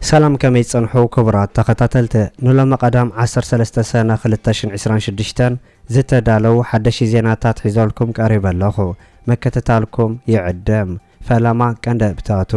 ሰላም ከመይ ትጸንሑ ክቡራት ተኸታተልቲ ንሎሚ ቀዳም ዓሰርተ ሰለስተ ሰነ ክልተ ሽሕን ዕስራን ሽዱሽተን ዝተዳለዉ ሓደሽቲ ዜናታት ሒዘልኩም ቀሪበ ኣለኹ ምክትታልኩም ይዕድም ፈለማ ቀንዲ እብታቱ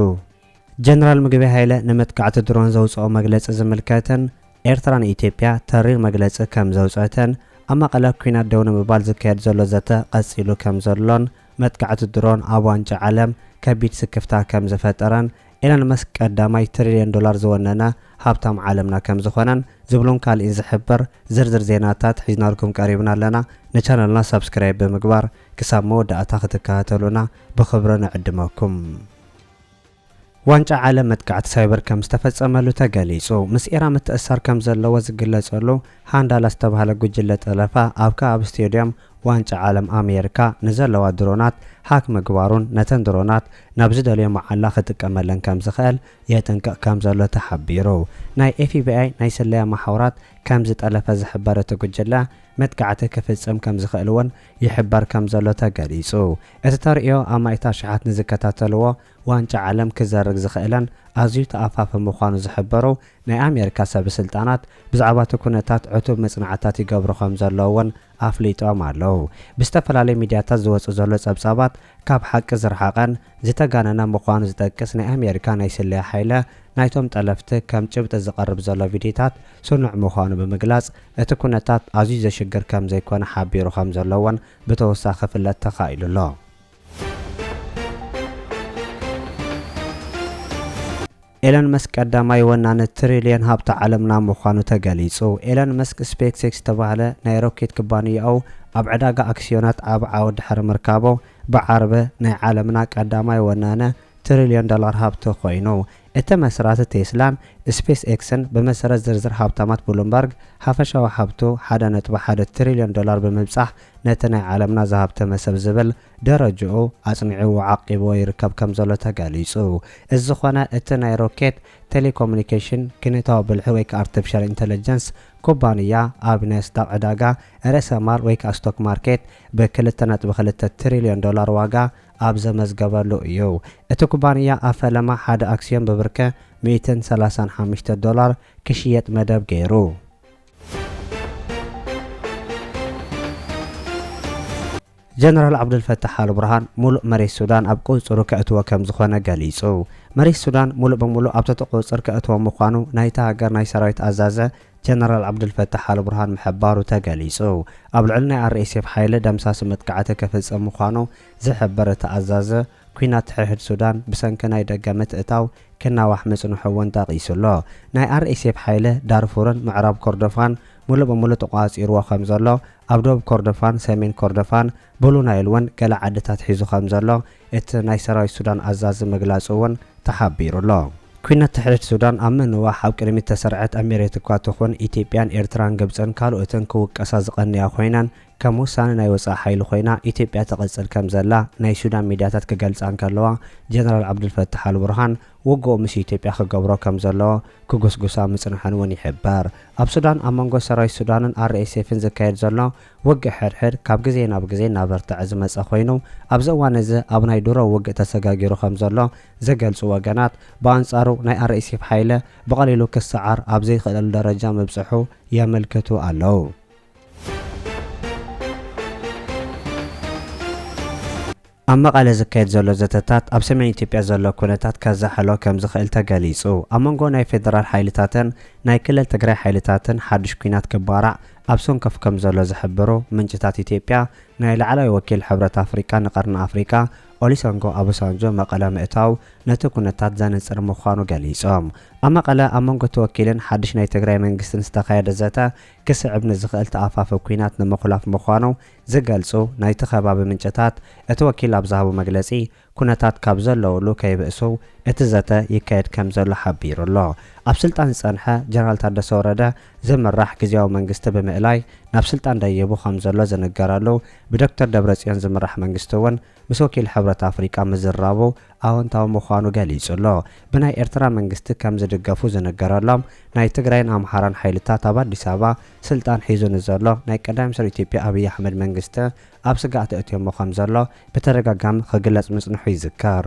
ጀነራል ምግበይ ሃይለ ንመጥቃዕቲ ድሮን ዘውጽኦ መግለጺ ዝምልከትን ኤርትራ ንኢትዮጵያ ተሪር መግለጺ ከም ዘውጸተን ኣብ መቐለ ኲናት ደው ንምባል ዝካየድ ዘሎ ዘተ ቐጺሉ ከም ዘሎን መጥቃዕቲ ድሮን ኣብ ዋንጫ ዓለም ከቢድ ስክፍታ ከም ዝፈጠረን ኤለን መስክ ቀዳማይ ትሪልዮን ዶላር ዝወነነ ሃብታም ዓለምና ከም ዝኾነን ዝብሉን ካልእን ዝሕብር ዝርዝር ዜናታት ሒዝናልኩም ቀሪብና ኣለና ንቻነልና ሳብስክራይብ ብምግባር ክሳብ መወዳእታ ክትከታተሉና ብኽብሪ ንዕድመኩም። ዋንጫ ዓለም መጥቃዕቲ ሳይበር ከም ዝተፈጸመሉ ተገሊጹ። ምስ ኢራን ምትእስሳር ከም ዘለዎ ዝግለጸሉ ሃንዳላ ዝተባህለ ጉጅለ ጠለፋ ኣብ ከባቢ ስቴድዮም ዋንጫ ዓለም ኣሜርካ ንዘለዋ ድሮናት ሃክ ምግባሩን ነተን ድሮናት ናብ ዝደለዮ መዓላ ክጥቀመለን ከም ዝኽእል የጥንቅቕ ከም ዘሎ ተሓቢሩ። ናይ ኤፍቢኣይ ናይ ስለያ መሓውራት ከም ዝጠለፈ ዝሕበር እቲ ጉጅለ መጥቃዕቲ ክፍጽም ከም ዝኽእል'ውን ይሕበር ከም ዘሎ ተገሊጹ። እቲ ተርእዮ ኣማኢት ኣሽሓት ንዝከታተልዎ ዋንጫ ዓለም ክዘርግ ዝኽእለን ኣዝዩ ተኣፋፊ ምዃኑ ዝሕበሩ ናይ ኣሜሪካ ሰብስልጣናት፣ ብዛዕባ'ቲ ኩነታት ዕቱብ መጽናዕትታት ይገብሩ ከም ዘለዉ'ውን ኣፍሊጦም ኣለዉ። ብዝተፈላለዩ ሚድያታት ዝወጽእ ዘሎ ጸብጻባት ካብ ሓቂ ዝረሓቐን ዝተጋነነ ምዃኑ ዝጠቅስ ናይ ኣሜሪካ ናይ ስለያ ሓይለ ናይቶም ጠለፍቲ ከም ጭብጢ ዝቐርብ ዘሎ ቪድዮታት ስኑዕ ምዃኑ ብምግላጽ እቲ ኩነታት ኣዝዩ ዘሽግር ከም ዘይኮነ ሓቢሩ ከም ዘሎ እውን ብተወሳኺ ክፍለጥ ተኻኢሉ ኣሎ። ኤለን መስክ ቀዳማይ ወናኒ ትሪልየን ሃብቲ ዓለምና ምዃኑ ተገሊጹ። ኤለን መስክ ስፔክስኤክስ ዝተባህለ ናይ ሮኬት ክባንያኡ ኣብ ዕዳጋ ኣክስዮናት ዓቢ ዓወት ድሕሪ ምርካቦ ብዓርቢ ናይ ዓለምና ቀዳማይ ወናኒ ትሪልዮን ዶላር ሃብቲ ኮይኑ። እቲ መስራቲ ቴስላን ስፔስ ኤክስን ብመሰረት ዝርዝር ሃብታማት ብሉምበርግ ሃፈሻዊ ሃብቱ ሓደ ነጥቢ ሓደ ትሪልዮን ዶላር ብምብጻሕ ነቲ ናይ ዓለምና ዝሃብተመ ሰብ ዝብል ደረጅኡ ኣፅኒዕዎ ዓቂብዎ ይርከብ ከምዘሎ ተገሊፁ። እዚ ዝኾነ እቲ ናይ ሮኬት፣ ቴሌኮሙኒኬሽን፣ ኪነታዊ ብልሒ ወይ ከዓ ኣርተፊሻል ኢንተለጀንስ ኩባንያ ኣብ ናስዳቅ ዕዳጋ ርእሰ ማል ወይ ከዓ ስቶክ ማርኬት ብ ክልተ ነጥቢ ክልተ ትሪልዮን ዶላር ዋጋ ኣብ ዘመዝገበሉ እዩ። እቲ ኩባንያ ኣብ ፈለማ ሓደ ኣክስዮን ብብርከ ሚእትን ሰላሳን ሓሙሽተ ዶላር ክሽየጥ መደብ ገይሩ። ጀነራል ዓብዱልፈታሕ ኣልቡርሃን ሙሉእ መሬት ሱዳን ኣብ ቁፅፅሩ ከእትዎ ከምዝኾነ ገሊፁ። መሬት ሱዳን ሙሉእ ብሙሉእ ኣብ ትሕቲ ቁፅፅር ከእትዎ ምዃኑ ናይታ ሃገር ናይ ሰራዊት ኣዛዘ ጀነራል ዓብዱልፈታሕ ኣልቡርሃን ምሕባሩ ተገሊፁ። ኣብ ልዕሊ ናይ RSF ሓይሊ ደምሳሲ መጥቃዕቲ ክፍፅም ምዃኑ ዝሕብር እቲ ኣዛዘ፣ ኲናት ትሕድሕድ ሱዳን ብሰንኪ ናይ ደገ ምትእታው ክናዋሕ ምፅንሑ እውን ጠቒሱ ኣሎ። ናይ RSF ሓይሊ ዳርፉርን ምዕራብ ኮርዶፋን ሙሉእ ብሙሉእ ተቖፃፂርዎ ከምዘሎ ኣብ ዶብ ኮርዶፋን ሰሜን ኮርዶፋን ብሉ ናይል ውን ገለ ዓድታት ሒዙ ከምዘሎ እቲ ናይ ሰራዊት ሱዳን ኣዛዚ ምግላጹ ውን ተሓቢሩ ኣሎ። ኲናት ትሕት ሱዳን ኣብ ምንዋሕ ኣብ ቅድሚት እተሰርዐት ኣሚሬት እኳ ትኹን ኢትዮጵያን ኤርትራን ግብጽን ካልኦትን ክውቀሳ ዝቐነያ ኮይነን ከም ወሳኒ ናይ ወጻኢ ሓይሊ ኮይና ኢትዮጵያ ትቕጽል ከምዘላ ናይ ሱዳን ሚድያታት ክገልጻ እንከለዋ ጀነራል ዓብዱልፈታሕ ኣልቡርሃን ውግኡ ምስ ኢትዮጵያ ክገብሮ ከም ዘለዎ ክጉስጉሳ ምጽንሐን እውን ይሕበር። ኣብ ሱዳን ኣብ መንጎ ሰራዊት ሱዳንን RSFን ዝካየድ ዘሎ ውግእ ሕድሕድ ካብ ግዜ ናብ ግዜ እናበርተዐ ዝመጸ ኮይኑ ኣብዚ እዋን እዚ ኣብ ናይ ድሮ ውግእ ተሰጋጊሩ ከም ዘሎ ዝገልጹ ወገናት ብኣንጻሩ ናይ RSF ሓይሊ ብቐሊሉ ክሰዓር ኣብ ዘይክእለሉ ደረጃ ምብጽሑ የመልክቱ ኣለዉ። ኣብ መቐለ ዝካየድ ዘሎ ዘተታት ኣብ ሰሜን ኢትዮጵያ ዘሎ ኩነታት ከዛሕሎ ከምዝኽእል ተገሊፁ። ኣብ መንጎ ናይ ፌደራል ሓይልታትን ናይ ክልል ትግራይ ሓይልታትን ሓዱሽ ኲናት ክባራዕ ኣብ ሰንኮፍ ከምዘሎ ዝሕብሩ ምንጭታት ኢትዮጵያ ናይ ላዕለዋይ ወኪል ሕብረት ኣፍሪቃ ንቀርኒ ኣፍሪቃ ኦሊሰንጎ ኣቦሳንጆ መቐለ ምእታው ነቲ ኩነታት ዘንፅር ምዃኑ ገሊፆም። ኣብ መቐለ ኣብ መንጎ እቲ ወኪልን ሓዱሽ ናይ ትግራይ መንግስትን ዝተኻየደ ዘተ ክስዕብ ንዝኽእል ተኣፋፊ ኲናት ንምኹላፍ ምዃኑ ዝገልጹ ናይቲ ከባቢ ምንጭታት፣ እቲ ወኪል ኣብ ዝሃቦ መግለጺ፣ ኩነታት ካብ ዘለዉሉ ከይብእሱ እቲ ዘተ ይካየድ ከምዘሎ ሓቢሩ ኣሎ። ኣብ ስልጣን ዝጸንሐ ጀነራል ታደሰ ወረደ ዝምራሕ ግዝያዊ መንግስቲ ብምእላይ ናብ ስልጣን ደይቡ ከምዘሎ ዝንገረሉ ብዶክተር ደብረጽዮን ዝምራሕ መንግስቲ'ውን፣ ምስ ወኪል ሕብረት ኣፍሪቃ ምዝራቡ ኣወንታዊ ምዃኑ ገሊጹ'ሎ። ብናይ ኤርትራ መንግስቲ ከም ዝድገፉ ዝንገረሎም ናይ ትግራይን ኣምሓራን ሓይልታት ኣብ ኣዲስ ኣበባ ስልጣን ሒዙ ንዘሎ ናይ ቀዳማይ ሚኒስተር ኢትዮጵያ ኣብይ ኣሕመድ መንግስቲ ኣብ ስግኣት ኣእትዮሞ ከም ዘሎ ብተደጋጋሚ ክግለጽ ምጽንሑ ይዝከር።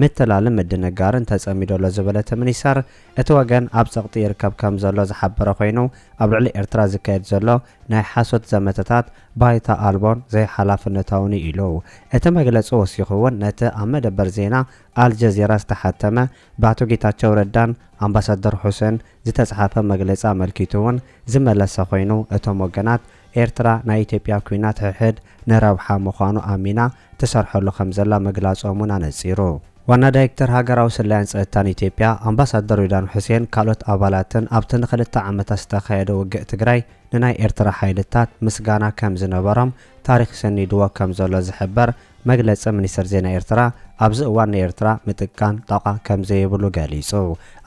ምትላልን ምድንጋርን ተጸሚዱ ኣሎ ዝበለ እቲ ሚኒስተር፣ እቲ ወገን ኣብ ጸቕጢ ይርከብ ከም ዘሎ ዝሓበረ ኮይኑ፣ ኣብ ልዕሊ ኤርትራ ዝካየድ ዘሎ ናይ ሓሶት ዘመተታት ባይታ ኣልቦን ዘይሓላፍነታውን'ዩ ኢሉ። እቲ መግለጺ ወሲኹ'ውን ነቲ ኣብ መደበር ዜና ኣልጀዚራ ዝተሓተመ ብኣቶ ጌታቸው ረዳን ኣምባሳደር ሑሴን ዝተጽሓፈ መግለጺ ኣመልኪቱ'ውን ዝመለሰ ኮይኑ፣ እቶም ወገናት ኤርትራ ናይ ኢትዮጵያ ኲናት ሕሕድ ንረብሓ ምዃኑ ኣሚና ትሰርሐሉ ከምዘላ ምግላጾም እውን ኣነጺሩ። ዋና ዳይክተር ሃገራዊ ስለያን ጸጥታን ኢትዮጵያ ኣምባሳደር ሬድዋን ሑሴን ካልኦት ኣባላትን ኣብቲ ንክልተ ዓመታት ዝተኻየደ ውግእ ትግራይ ንናይ ኤርትራ ሓይልታት ምስጋና ከምዝነበሮም ታሪኽ ሰኒድዎ ከምዘሎ ዝሕበር መግለጺ ሚኒስተር ዜና ኤርትራ ኣብዚ እዋን ንኤርትራ ምጥቃን ጣቋ ከምዘይብሉ ገሊጹ።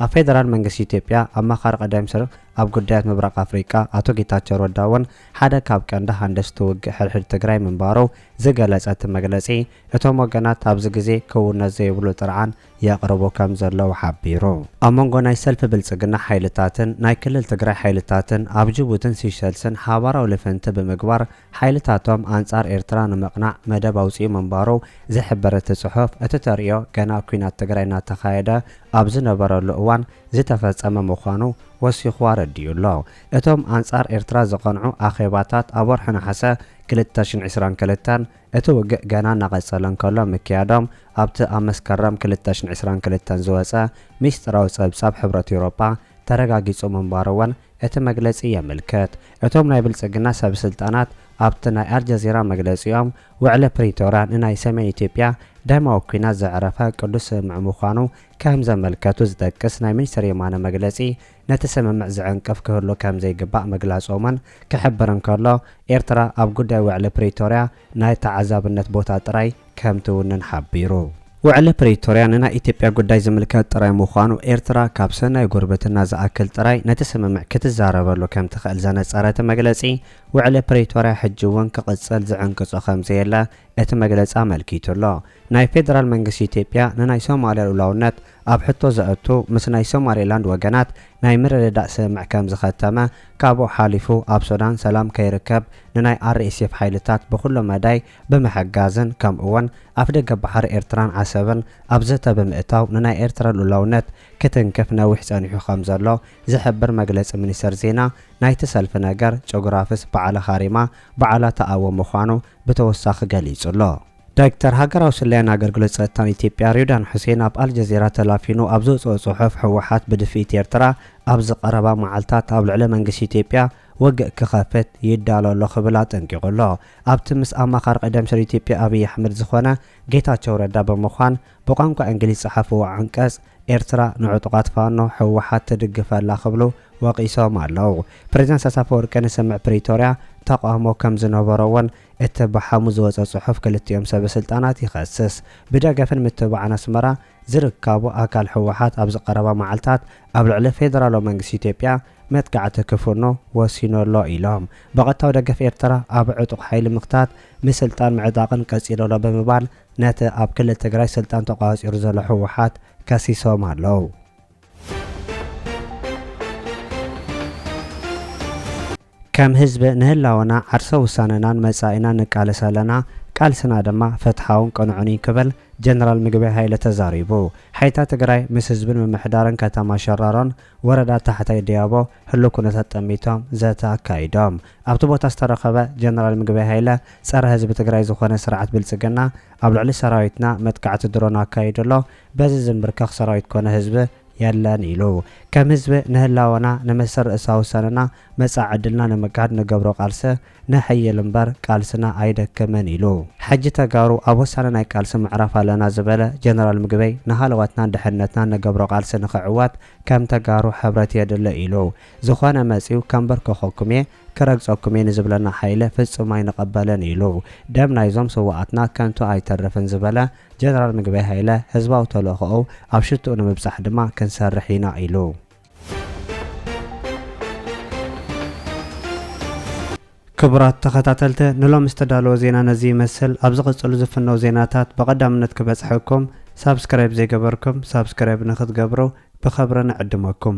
ኣብ ፌደራል መንግስቲ ኢትዮጵያ ኣማኻሪ ቀዳይ ሚኒስተር ኣብ ጉዳያት ምብራቕ ኣፍሪቃ ኣቶ ጌታቸው ረዳ እውን ሓደ ካብ ቀንዲ ሃንደስቲ ውግእ ሕድሕድ ትግራይ ምንባሩ ዝገለፀ እቲ መግለፂ፣ እቶም ወገናት ኣብዚ ግዜ ክውነት ዘይብሉ ጥርዓን የቕርቡ ከም ዘለዉ ሓቢሩ። ኣብ መንጎ ናይ ሰልፊ ብልፅግና ሓይልታትን ናይ ክልል ትግራይ ሓይልታትን ኣብ ጅቡትን ሲሸልስን ሓባራዊ ልፍንቲ ብምግባር ሓይልታቶም ኣንጻር ኤርትራ ንምቕናዕ መደብ ኣውጺኡ ምንባሩ ዝሕብር እቲ ጽሑፍ፣ እቲ ተርእዮ ገና ኲናት ትግራይ እናተኻየደ ኣብ ዝነበረሉ እዋን ዝተፈጸመ ምዃኑ ወሲኹ ኣረዲኡ ኣሎ። እቶም ኣንጻር ኤርትራ ዝቐንዑ ኣኼባታት ኣብ ወርሒ ነሓሰ ክልተ ሽሕን ዕስራን ክልተን፣ እቲ ውግእ ገና እናቐጸለ እንከሎ ምክያዶም ኣብቲ ኣብ መስከረም ክልተ ሽሕን ዕስራን ክልተን ዝወጸ ምስጢራዊ ጸብጻብ ሕብረት ኤውሮጳ ተረጋጊጹ ምንባሩ'ውን እቲ መግለጺ የምልከት። እቶም ናይ ብልጽግና ሰብስልጣናት ኣብቲ ናይ ኣልጀዚራ መግለጺኦም፣ ውዕሊ ፕሪቶርያ ንናይ ሰሜን ኢትዮጵያ ደማዊ ኲናት ዘዕረፈ ቅዱስ ስምምዕ ምዃኑ ከም ዘመልከቱ ዝጠቅስ ናይ ሚኒስተር የማነ መግለጺ ነቲ ስምምዕ ዝዕንቅፍ ክህሉ ከም ዘይግባእ ምግላጾምን ክሕብር እንከሎ፣ ኤርትራ ኣብ ጉዳይ ውዕሊ ፕሪቶርያ ናይ ተዓዛብነት ቦታ ጥራይ ከምትውንን ሓቢሩ። ውዕሊ ፕሪቶርያ ንናይ ኢትዮጵያ ጉዳይ ዝምልከት ጥራይ ምዃኑ፣ ኤርትራ ካብ ሰናይ ጉርብትና ዝኣክል ጥራይ ነቲ ስምምዕ ክትዛረበሉ ከምትኽእል ዘነጸረ እቲ መግለጺ፣ ውዕሊ ፕሪቶርያ ሕጂ'ውን ክቕጽል ዝዕንቅጾ ከምዘየለ እቲ መግለጺ ኣመልኪቱ'ሎ። ናይ ፌደራል መንግስቲ ኢትዮጵያ ንናይ ሶማልያ ልኡላውነት ኣብ ሕቶ ዘእቱ ምስ ናይ ሶማሌላንድ ወገናት ናይ ምርድዳእ ስምምዕ ከምዝኸተመ ካብኡ ሓሊፉ ኣብ ሱዳን ሰላም ከይርከብ ንናይ RSF ሓይልታት ብኹሉ መዳይ ብምሕጋዝን ከምኡ'ውን ኣፍደገ ባሕሪ ኤርትራን ዓሰብን ኣብ ዘተ ብምእታው ንናይ ኤርትራ ልኡላውነት ክትንክፍ ነዊሕ ጸኒሑ ከምዘሎ ዝሕብር መግለጺ ሚኒስተር ዜና ናይቲ ሰልፊ ነገር ጭጉራፍስ በዓለ ኻሪማ በዓላ ተኣዊ ምዃኑ ብተወሳኺ ገሊጹ'ሎ። ዳይክተር ሃገራዊ ስለያን ኣገልግሎት ጸጥታን ኢትዮጵያ ሬድዋን ሑሴን ኣብ ኣልጀዚራ ተላፊኑ ኣብ ዘውጽኦ ጽሑፍ ህወሓት ብድፍኢት ኤርትራ ኣብዚ ቀረባ መዓልታት ኣብ ልዕሊ መንግስቲ ኢትዮጵያ ወግእ ክኸፍት ይዳሎ ኣሎ ክብል ኣጠንቂቑ ኣሎ። ኣብቲ ምስ ኣማኻሪ ቀደም ስር ኢትዮጵያ ኣብይ ኣሕመድ ዝኾነ ጌታቸው ረዳ ብምዃን ብቋንቋ እንግሊዝ ዝጸሓፍዎ ዓንቀጽ ኤርትራ ንዕጡቓት ፋኖ ህወሓት ትድግፍ ኣላ ክብሉ ወቒሶም ኣለው። ፕሬዝዳንት ኢሳያስ ኣፈወርቂ ንስምምዕ ፕሪቶርያ ተቓውሞ ከምዝነበሮ እውን እቲ ብሓሙስ ዝወጸ ጽሑፍ ክልቲኦም ሰበስልጣናት ይኸስስ። ብደገፍን ምትብባዕን ኣስመራ ዝርካቡ ኣካል ህወሓት ኣብዚ ቀረባ መዓልታት ኣብ ልዕሊ ፌደራላዊ መንግስቲ ኢትዮጵያ መጥቃዕቲ ክፍኖ ወሲኑ ኣሎ ኢሎም። ብቐጥታዊ ደገፍ ኤርትራ ኣብ ዕጡቕ ሓይሊ ምኽታት ንስልጣን ምዕጣቕን ቀጺሉ ኣሎ ብምባል ነቲ ኣብ ክልል ትግራይ ስልጣን ተቖጻጺሩ ዘሎ ህወሓት ከሲሶም ኣለው። ከም ህዝቢ ንህላወና፣ ዓርሰ ውሳነናን መጻኢናን ንቃለስ ኣለና፣ ቃልስና ድማ ፍትሓውን ቅኑዕን እዩ ክብል ጀነራል ምግበይ ሃይለ ተዛሪቡ። ሓይልታት ትግራይ ምስ ህዝብን ምምሕዳርን ከተማ ሸራሮን ወረዳ ታሕታይ ደያቦ ህሉው ኩነታት ጠሚቶም ዘተ ኣካይዶም። ኣብቲ ቦታ ዝተረኸበ ጀነራል ምግበይ ሃይለ ፀረ ህዝቢ ትግራይ ዝኾነ ስርዓት ብልፅግና ኣብ ልዕሊ ሰራዊትና መጥቃዕቲ ድሮን ኣካይዱ ኣሎ፣ በዚ ዝምብርከኽ ሰራዊት ኮነ ህዝቢ የለን ኢሉ። ከም ህዝቢ ንህላወና ንመስል ርእሳ ውሳነና መጻኢ ዕድልና ንምግሃድ ንገብሮ ቃልሰ ነሐይል እምበር ቃልስና ኣይደክምን ኢሉ። ሕጂ ተጋሩ ኣብ ወሳኒ ናይ ቃልሲ ምዕራፍ ኣለና ዝበለ ጀነራል ምግበይ ንሃለዋትናን ድሕነትናን ንገብሮ ቃልሲ ንክዕወት ከም ተጋሩ ሕብረት የድሊ ኢሉ። ዝኾነ መጽዩ ከምበርከኸኩም እየ ክረግጸኩም እየ ንዝብለና ሓይሊ ፍጹም ኣይንቐበልን ኢሉ። ደም ናይዞም ስውኣትና ከንቱ ኣይተርፍን ዝበለ ጀነራል ምግበይ ሃይለ፣ ህዝባዊ ተልእኾኡ ኣብ ሽትኡ ንምብጻሕ ድማ ክንሰርሕ ኢና ኢሉ። ክቡራት ተኸታተልቲ ንሎሚ ዝተዳለወ ዜና ነዚ ይመስል። ኣብ ዝቕጽሉ ዝፍነው ዜናታት ብቐዳምነት ክበጽሐኩም ሳብስክራይብ ዘይገበርኩም ሳብስክራይብ ንክትገብሩ ብኸብሪ ንዕድመኩም።